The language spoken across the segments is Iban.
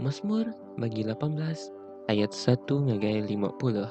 Masmur bagi lapan belas ayat satu ngagai lima puluh.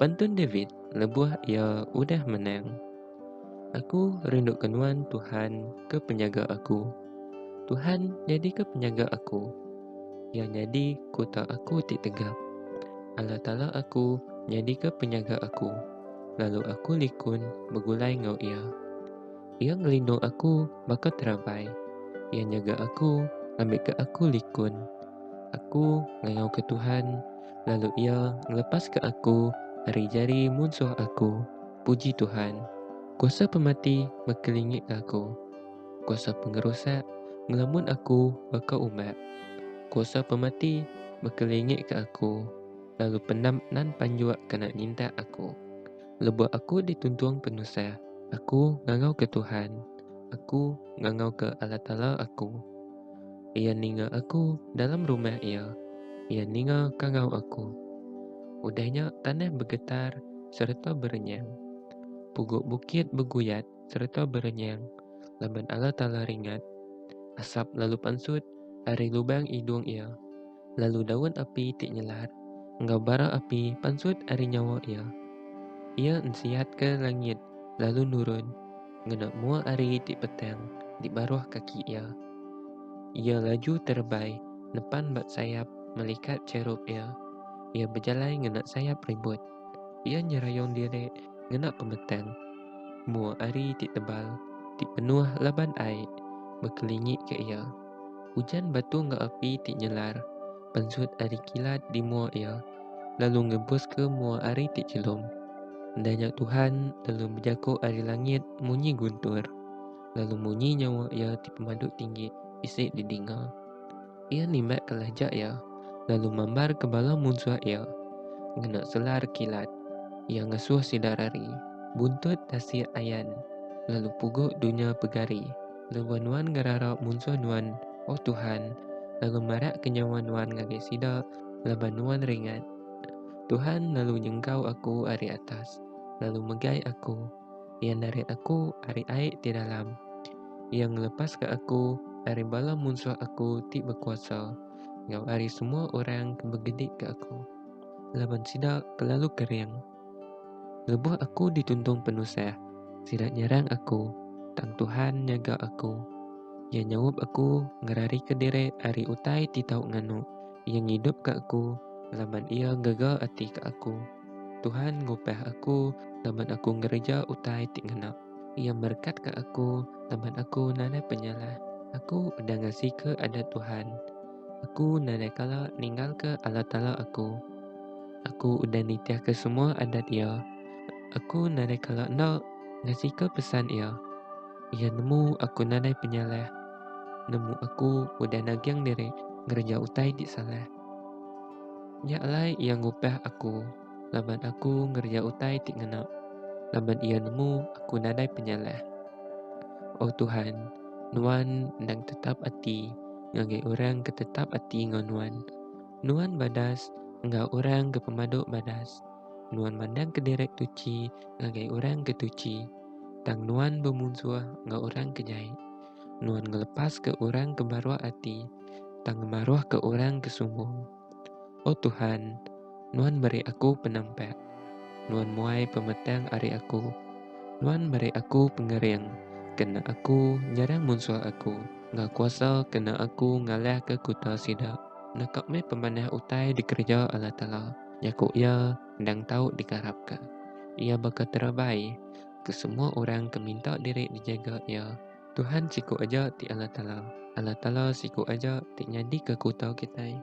Pantun David lebuh iya udah menang. Aku rinduka Nuan Tuhan ke penyaga aku. Tuhan nyadika penyaga aku. Iya nyadi kuta aku ti tegap. Allah Taala aku nyadika penyaga aku, lalu aku likun begulai enggau Iya. Iya ngelindung aku baka terampai. Iya nyaga aku ngambika aku likun. Aku ngayauka Tuhan, lalu Iya ngelepaska aku ari jari munsuh aku. Puji Tuhan! Kuasa pemati ngekelingitka aku. Kuasa pengerusak ngelamun aku baka umak. Kuasa pemati ngekelingitka aku, lalu pendam nan panjua kena nintak aku. Lebuh aku dituntung penusah, aku ngangauka Tuhan, aku ngangauka Allah Taala aku. Iya ninga aku dalam rumah Iya, Iya ninga kangau aku. Udah nya tanah begetar sereta berenyang, pugu bukit beguyat sereta berenyang laban Allah Taala ringat. Asap lalu pansut ari lubang idung Iya. lalu daun api ti nyelar enggau bara api pansut ari nyawa iya. Iya ensihatka langit lalu nurun ngena mua ari ti petang di baruh kaki iya. Iya laju terebai nepan ba sayap melikat cherup iya. Iya bejalai ngena sayap ribut. Iya nyerayung diri ngena pemetang mua ari ti tebal ti penuh laban ai bekelingika iya. Ujan batu enggau api ti nyelar pansut ari kilat di mua iya, lalu ngebuska mua ari ti chelum. Enda nya Tuhan lalu bejako ari langit munyi guntur, lalu munyi nyawa iya ti pemadu tinggi bisi didinga. Iya nimbatka lajak iya, lalu mambarka bala munsuh iya ngena selar kilat. Iya ngasuh sida rari buntut tasik ayan, lalu pugu dunya pegari. Laban nuan ngerarap munsuh nuan, O Tuhan, lalu marakka nyawa nuan ngagai sida, laban nuan ringat. Tuhan lalu nyengkau aku ari atas, lalu megai aku. Iya narit aku ari ai ti dalam. Iya ngelepaska aku ari bala munsuh aku ti bekuasa, enggau ari semua orang ke begeditka aku, laban sida kelalu kering. Lebuh aku dituntung penusah, sida nyerang aku, tang Tuhan nyaga aku. Iya nyaup aku ngerarika diri ari utai ti tau nganu, Iya ngidupka aku laban Iya gaga ati ka aku. Tuhan ngupah aku laban aku ngereja utai ti ngena. Iya merekatka aku laban aku nadai penyalah. Aku udah ngasika adat Tuhan. Aku nadai kala ninggalka Allah Taala aku. Aku udah nitihka semua adat Iya. Aku nadai kala enda ngasika pesan Iya. Iya nemu aku nadai penyalah. Nemu aku udah naging diri ngereja utai ti salah. Nya alai Iya ngupah aku. laban aku ngereja utai ti ngena, laban iya nemu aku nadai penyalah. O Tuhan, Nuan endang tetap ati ngagai orang ke tetap ati enggau Nuan. Nuan badas enggau orang ke pemadu badas. Nuan mandang kederek tuchi ngagai orang ke tuchi. Tang Nuan bemunsuh enggau orang ke jai. Nuan ngelepaska orang ke maruh ati, tang ngemaruhka orang ke sumbung. Oh Tuhan, Nuan meri aku penampak. Nuan muai pemetang ari aku. Nuan meri aku pengering kena aku nyerang munsuh aku, enggau kuasa kena aku ngalahka kuta sida. Naka meh pemanah utai dikereja Allah Taala, jaku Iya endang tau dikarapka. Iya baka terabai ke semua orang ke minta diri dijaga Iya. Tuhan siku aja ti Allah Taala. Allah Taala siku aja ti nyadika aku tau kitai.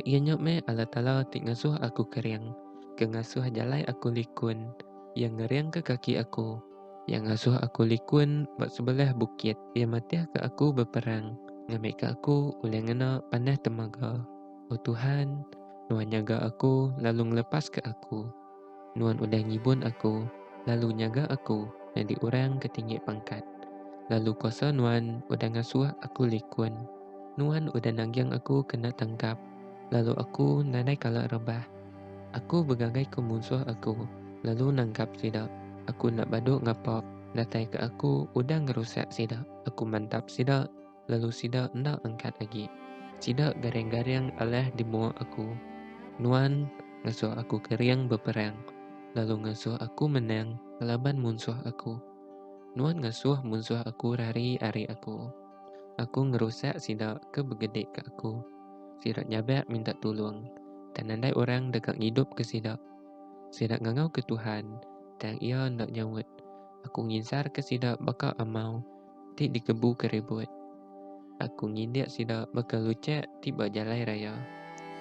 Iya nya meh Allah Taala ti ngasuh aku kering, ke ngasuh jalai aku likun, Iya ngeringka kaki aku, Iya ngasuh aku likun ba sebelah bukit, Iya matihka aku beperang, ngambika aku ulih ngena panah temaga. O Tuhan, Nuan nyaga aku lalu ngelepaska aku. Nuan udah ngibun aku, lalu nyaga aku nyadi orang ke tinggi pangkat. Lalu kuasa Nuan udah ngasuh aku likun. Nuan udah nanggang aku kena tangkap, lalu aku nadai kala rebah. Aku begagaika munsuh aku, lalu nangkap sida. Aku enda badu ngapa datai ke aku udah ngerusak sida. Aku mantap sida. lalu sida enda angkat agi. Sida garing-garing alah di mua aku. Nuan ngasuh aku kering beperang, lalu ngasuh aku menang ngelaban munsuh aku. Nuan ngasuh munsuh aku rari ari aku. Aku ngerusak sida ke begedika aku. Sida nyabak minta tulung, tang nadai orang deka ngidupka sida. Sida ngangauka Tuhan, tang Iya enda nyaut. Aku nginsarka sida baka amau. ti dikebuka ribut. Aku ngindik sida baka luchak ti ba jalai raya.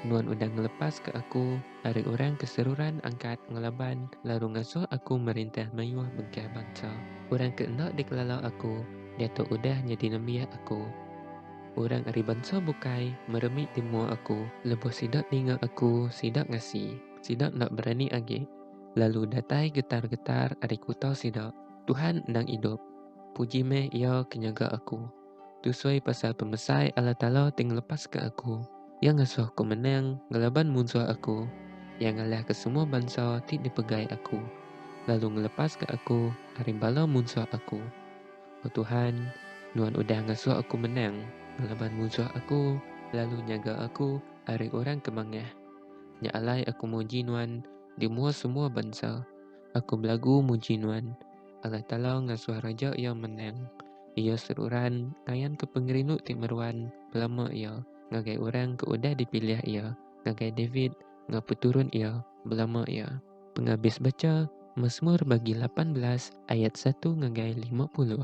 Nuan udah ngelepaska aku ari orang ke seruran angkat ngelaban lalu ngasuh aku merintah mayuh bengkah bansa. Orang ke enda dikelala aku diatu udah nyadi nembiak aku. Orang ari bansa bukai meremik di mua aku. Lebuh sida ninga aku, sida ngasi. Sida enda berani agi lalu datai getar-getar ari kuta sida. Tuhan endang idup! Puji meh Iya ke nyaga aku. Tusui pasal pemesai Allah Taala ti ngelepaska aku. Iya ngasuh aku menang ngelaban munsuh aku. Iya ngalahka semua bansa ti dipegai aku, lalu ngelepaska aku ari bala munsuh aku. O Tuhan, Nuan udah ngasuh aku menang ngelaban munsuh aku lalu nyaga aku ari orang ke mangah. Nya alai aku muji Nuan di mua semua bansa. Aku belagu muji Nuan. Allah Taala ngasuh raja iya menang. Iya seruran ngayanka pengerindu ti meruan belama iya ngagai orang ke udah dipilih iya, ngagai David enggau peturun iya belama iya. Pengabis bacha Masmur bagi lapan belas ayat satu ngagai lima puluh.